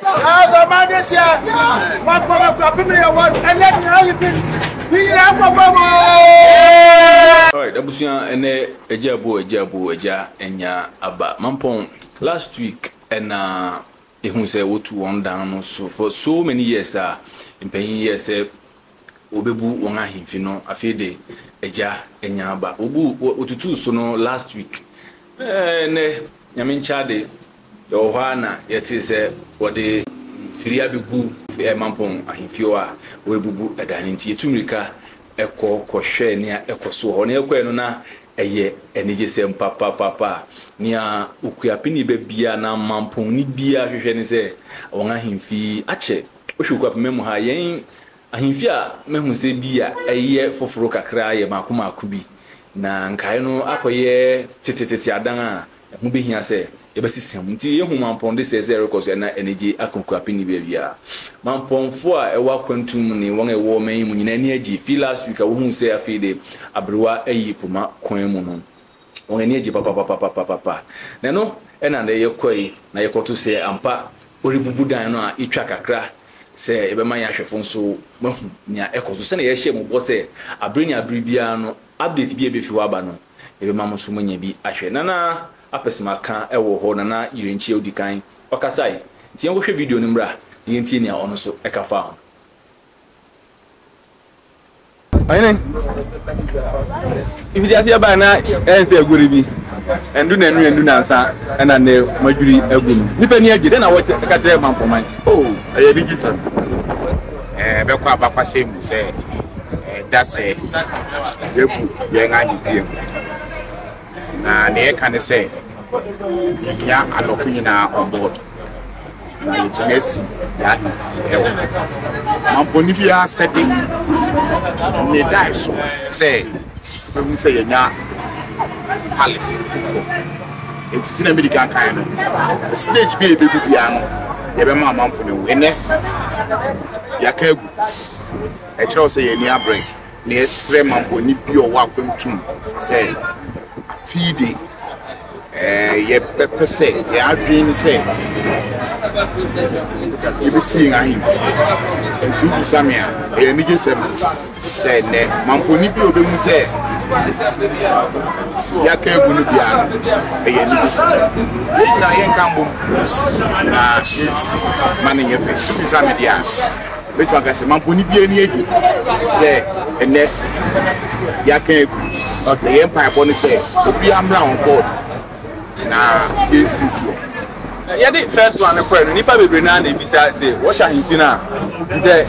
Nanso ɔman no ahyia, wɔapam akuapem ne yɛn wɔn, ɛnyɛ nea ayi bi, ne nyinaa kɔ fam oo. Alright, abusua ɛnɛ agya abo agya abo agya anya aba mampɔn last week ɛna ehu sɛ wotu wɔn dan no so for so many years a mpanyin yɛ sɛ wɔbɛbu wɔn ahemfi no afei de agya anya aba wɔbu wɔtutuu so no last week ɛɛ nɛ nyame nkyade yɛwɔ hɔ a na yɛte sɛ wɔde mfiri abɛgu mampɔn ahemfi hɔ a wɔrebubu ɛdan no nti yɛtu mmirika ɛkɔ kɔhwɛ nea ɛkɔ so wɔ hɔ na yɛkɔɛ no na ɛyɛ anigye sɛm papapapa nea okuapeni bɛ bia na mampɔnni bia hwehwɛ ne sɛ wɔn ahemfi akyɛ Wohwɛ Kwapima mu ha, yɛn ahemfie a mahu sɛ bi a ɛyɛ foforo kakra yɛ mmaako mmaako bi, na nkae no akɔyɛ tetetete adan a ɛho behia sɛ yɛbɛsesa mu. Enti yehu Mampɔn de sɛe sɛ ɛrekɔ so na anigye aka Okuapem ne baabiara. Mampɔnfo a ɛwɔ akwantu mu ne wɔn a ɛwɔ ɔman yi mu nyinaa ani agye. Fi last week a wohuu sɛ afei de aberewa ayi poma kwan mu no, wɔn ani agye papapapapapapa. Na ɛno na na yɛkɔe na yɛkɔto sɛ ampa Wɔrebubu dan no a, yetwa kakra sɛ yɛbɛma yɛn ahwɛfo nso wɔahu nea ɛkɔ so. Sɛnea yɛhyɛɛ mo bɔ sɛ bere ne bere biara no, update bi a ebefi hɔ aba no, yɛbɛma mo nso moanya bi ahwɛ. Nana Apɛsɛmaka wɔ hɔ, Nana Yirenkyi a odi kan, ɔkasae. Enti yɛnkɔhwɛ video no mmra na yentie nea ɔno nso ka faa ho. Ɔyene, ifiti aseɛ baa na ɛyɛ sɛ agori bi, ɛndu na ɛnu ɛndu nansa ɛna ne madwiri agu no. Nipa ni agye, dɛn na wɔte ɛka kyerɛ mampɔman? O, ɛyɛ anigye sɛm. Ɛɛ, bɛkɔ abakwasɛm mu sɛ, ɛda sɛ yɛbu yɛn ade bie mu. Na nea ɛka ne sɛ yɛhia adɔfo nyinaa on board na yɛtumi asi yɛn ahemfo wɔ ha. Mampɔni fie asɛde ne dae so sɛ bɛhu sɛ yɛnya palace foforɔ nti sɛ na mede kan kan no stage bi a yɛbɛgu biara no yɛbɛma amanfo no wo ɛnɛ yɛaka agu ɛkyerɛ wo sɛ yɛn ani abrɛ Na yɛsrɛ ma bɔne bi a ɔwɔ akwantu mu sɛ afei de yɛbɛpɛ sɛ yɛn adwene sɛ yɛbɛsi yɛn ahemfi nti wobisa me a ɛyɛ anigye sɛm sɛ nnɛ mampɔni bi a ɔbɛhu sɛ yɛaka agu no bia no ɛyɛ anigye sɛm yɛn nyinaa yɛnka mbom na yɛnsi ma no nyɛ fɛ wobisa me deɛ a Mɛtumi aka sɛ mampɔne bi ani agye sɛ ɛnɛ yɛaka agu na yɛn mpaebɔ no sɛ obiara mmra on board na yɛnsisi hɔ. Yɛde first one no kɔɛ no nnipa bebree no a na ebisa sɛ wɔhyɛ ahemfi no a ntɛ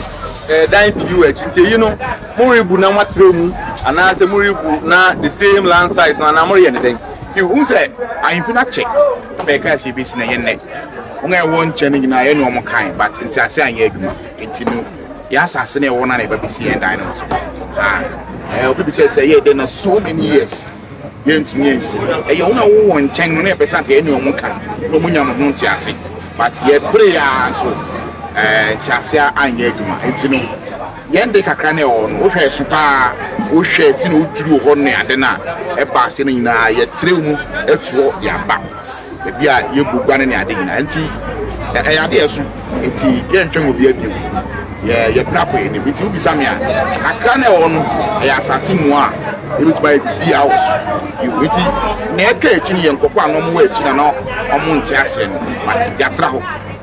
ɛdan pii wɔ akyi nti eyi no morebu na moatrɛw mu anaasɛ morebu na the same land size no anaa moreyɛ ne dɛn? Ihu sɛ ahemfi no akyɛ. Papa yɛ kaa sɛ yɛbɛsi na yɛ nnɛ wɔn a ɛwɔ nkyɛn no nyinaa yɛ ne wɔn kan but ntease anyɛ adwuma nti no yɛ asase na ɛwɔ no na yɛba bɛsi yɛn dan no so ah, obi bisɛ sɛ yɛ dɛ na so many years yɛntumi yɛnsi ɛyɛ wɔn a wɔwɔ wɔn nkyɛn no na yɛpɛ sɛ anka yɛ ne wɔn kan na wɔn nya mo ho ntease but yɛbere a nso ntease anyɛ adwuma nti no Yɛn de kakra no a ɛwɔ hɔ no, wohwɛɛ so paa, wohwɛɛ sɛnea wodwiriw hɔ ne ade no a, ɛba ase no nyinaa, yɛtrɛw mu afi hɔ de aba. Ebia yɛbɔ gua no ne ade nyinaa. Enti ɛyɛ ade a ɛso, enti yɛrentwɛn obiara bio. Yɛ, yɛpira kɔ yɛn anim. Enti wobisa me a, kakra no a ɛwɔ hɔ no, ɛyɛ asase mua a yebetumi ayɛ biribiara wɔ so. Yiw, enti nea ɛka akyi no yɛ nkurɔfo a na wɔwɔ akyi na na wɔnte aseɛ no, but yɛatra hɔ.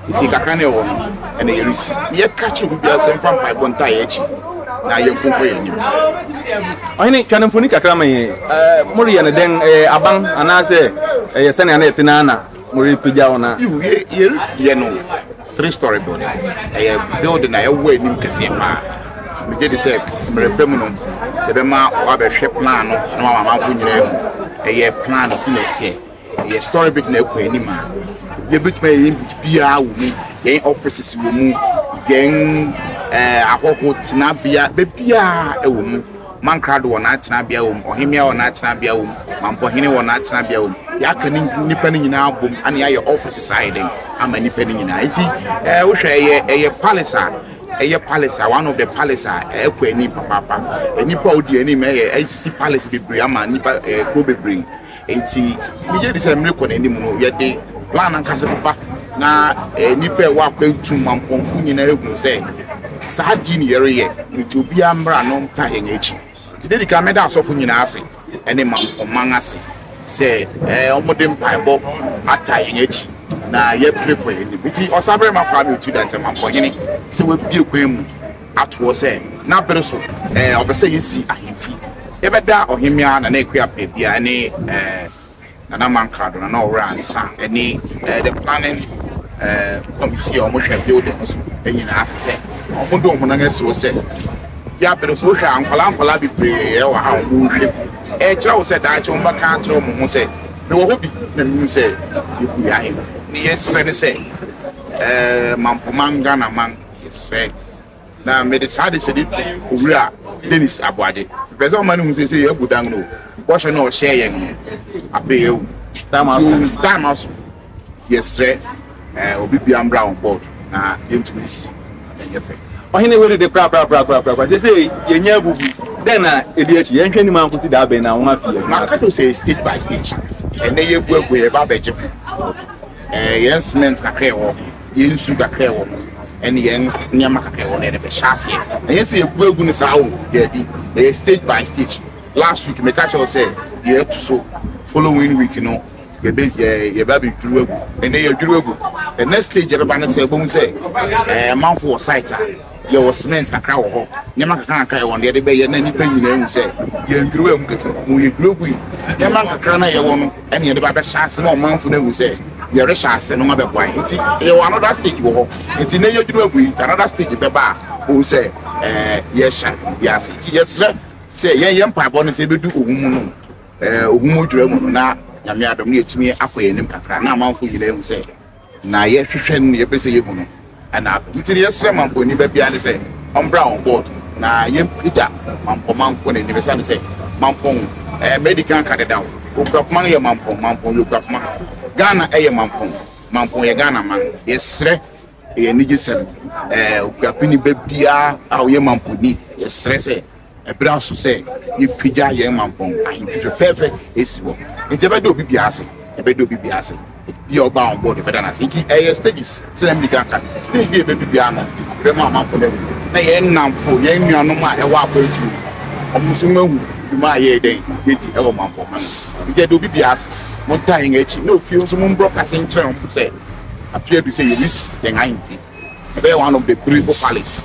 Nsi kakra na ɛwɔ no, ɛna yɛresi. Yɛka kyerɛ obi biara sɛ mfa mpaebɔ ntaa yɛn akyi na yɛnkonkɔ yɛn anim. Ɔhene, twa no mfoni kakra ma yɛn. Moreyɛ no dɛn? Ɛyɛ aban anaasɛ ɛyɛ sɛnea na ɛte no ara na morepagyaw no? Yiw, yɛreyɛ no three story building. Ɛyɛ building a ɛwɔ anim kɛseɛ paa. Megye di sɛ mmerɛ pa mu no, yɛbɛma wɔabɛhwɛ plan no na wɔama amanfo nyinaa ahu ɛyɛ plan a ɛsi na ɛteɛ. Yɛ story bi na ɛkɔ anim a yɛbɛtumi ayɛ yɛn biribiara wɔ mu yɛn offices wɔ mu yɛn eh, ahɔho tenabea baabiara ɛwɔ mu mankrado wɔ n'atenabea wɔ mu ɔhemea wɔ n'atenabea wɔ mu mampɔhene wɔ n'atenabea wɔ mu yɛaka ne nnipa no nyinaa bom ane ayɛ offices ayɛ dɛn ama nnipa no nyinaa nti eh, wohwɛ ɛyɛ ɛyɛ palace a ɛyɛ palace a one of the palace a ɛkɔ anim papaapa nnipa a odi anim ɛyɛ ɛsisi palace bebree ama nnipa eh, kuro bebree Enti migye di sɛ mmere kɔ n'anim no, yɛde plan ankasa bɛba na eh, nnipa a ɛwɔ akwantu ma mpɔmfo nyinaa ehunu sɛ saa adi ne yɛreyɛ nti obiara mmra no nka yɛn akyi. Nti dedi kan mɛda asɔfo nyinaa ase ne ma ɔman ase sɛ eh, wɔde mpaebɔ ata yɛn akyi na yɛpere kɔ yɛn anim. Nti ɔsabarima Kwame Otu Dantem Ampɔhene sɛ wabie kwan mu ato hɔ sɛ na bere so eh, ɔpɛ sɛ yɛsi ahemfi. Yɛbɛda ɔhemmea Nana Akua Pɛɛbia ne eh, Nana Mankrado, Nana Ɔwora Ansa ne eh, the planning eh, committee a wɔhwɛ building no so nyinaa ase sɛ wɔn de wɔn ho nan asi hɔ sɛ yɛabere so. Wohwɛ a nkwadaa nkwadaa bebree wɔ ha a wɔn rehwɛ bi. Ɛkyerɛ wo sɛ daakye wɔn bɛka akyerɛ wɔn ho sɛ mewɔ hɔ bi na menim sɛ yɛbue ahemfi. Ne yɛsrɛ ne sɛ eh, Mampoman Ghanaman Yɛsrɛ. Na mede saa adehyɛde yi to Owura Dennis Aboagye. Mepɛ sɛ ɔma no hu sɛ sɛ yɛabu dan no bɔhyɛ no a ɔhyɛɛ yɛn no, afei awu. Nti time aso. Nti yɛsrɛ obi bia mbra on board na yɛntumi nsi na ɛnyɛ fɛ. Ɔhene wei dede korakorakorakorakoraa. Seesei yɛanya abubu. Dɛn na ɛdi akyi? Yɛnhwɛ anim ara nkɔsi da bɛn na wɔn afi adwuma ase? Maka kyerɛ wo sɛ ɛyɛ stage by stage. Ɛnnɛ yɛaguaguo, yɛreba abɛgye ho. Yɛn cement kakra a ɛwɔ. yɛn nsu kakra ɛwɔ mu ɛne yɛn nneɛma kakra ɛwɔ no yɛde bɛhyɛ aseɛ ɛnyɛ sɛ yɛbu agu no saa o daabi ɛyɛ stage by stage last week meka kyerɛ wo sɛ yɛatu so following week no yɛbɛ yɛbɛ abɛdwuru agu ɛnɛ yɛdwuru agu the next stage yɛbɛba no sɛ ɛbɛhu sɛ ɛɛ manfo wɔ site a yɛwɔ cement kakra wɔ hɔ nneɛma kakra kakra ɛwɔ no yɛde bɛyɛ na nnipa nyinaa hu sɛ yɛndwuru agu kɛkɛ mu yɛdwuru agu yi nneɛma kakra na yɛwɔ no ɛne yɛde ba bɛhyɛ ase na ɔmanfo no ahu sɛ yɛrehyɛ ase no ma bɛboa yɛn nti yɛwɔ another stage wɔ hɔ nti na yɛduru agu yi another stage bɛba a wohu sɛ ɛɛ yɛhyɛ bi ase nti yɛsrɛ sɛ yɛn yɛn mpaebɔ no sɛ ebedu ohun mu no ɛɛ ohun mu dwura mu no na nyame adom no yɛtumi akɔ yɛn anim kakra na amanfo nyinaa ahu sɛ na yɛhwehwɛ no na yɛpɛ sɛ yɛhu no ɛna nti no yɛsrɛ mampɔni ba biara ne sɛ ɔmbra wɔn board na yɛmpagya mampɔ mampɔ no anim ɛsiane sɛ mampɔn ɛɛ mɛdi kan ka deda o okuapoma no yɛ mampɔn mampɔn yɛ okuapoma ghana ɛyɛ mampɔn mampɔn yɛ ghana man yɛsrɛ ɛyɛ anigyesɛm ɛɛ okuapini ba biara a ɔyɛ mampɔni yɛsrɛ sɛ Ɛberɛ aso sɛ yɛpagya yɛn mampɔn ahemfi fɛfɛɛfɛ asi hɔ, nti ɛbɛda obi biara ase, ɛbɛda obi biara ase, bia ɔbaa on board ɛbɛda no ase, nti ɛyɛ stages, sɛdeɛ medi kan ka, stage bia ɛbɛdu biara no yɛbɛma amampɔn ahu, na yɛn nnamfo, yɛn nuanom a ɛwɔ akwantuo mu no, wɔn nso wɔahu dwuma a yɛyɛ dɛn, yɛdi ɛwɔ mampɔn ha no mu, nti ɛda obi biara ase, montaa yɛn akyi, na ofie nso mombrɔ kase nkyerɛ wɔn sɛ afe adu sɛ yɛresi yɛn ahemfi, ɛbɛyɛ one of the beautiful palace.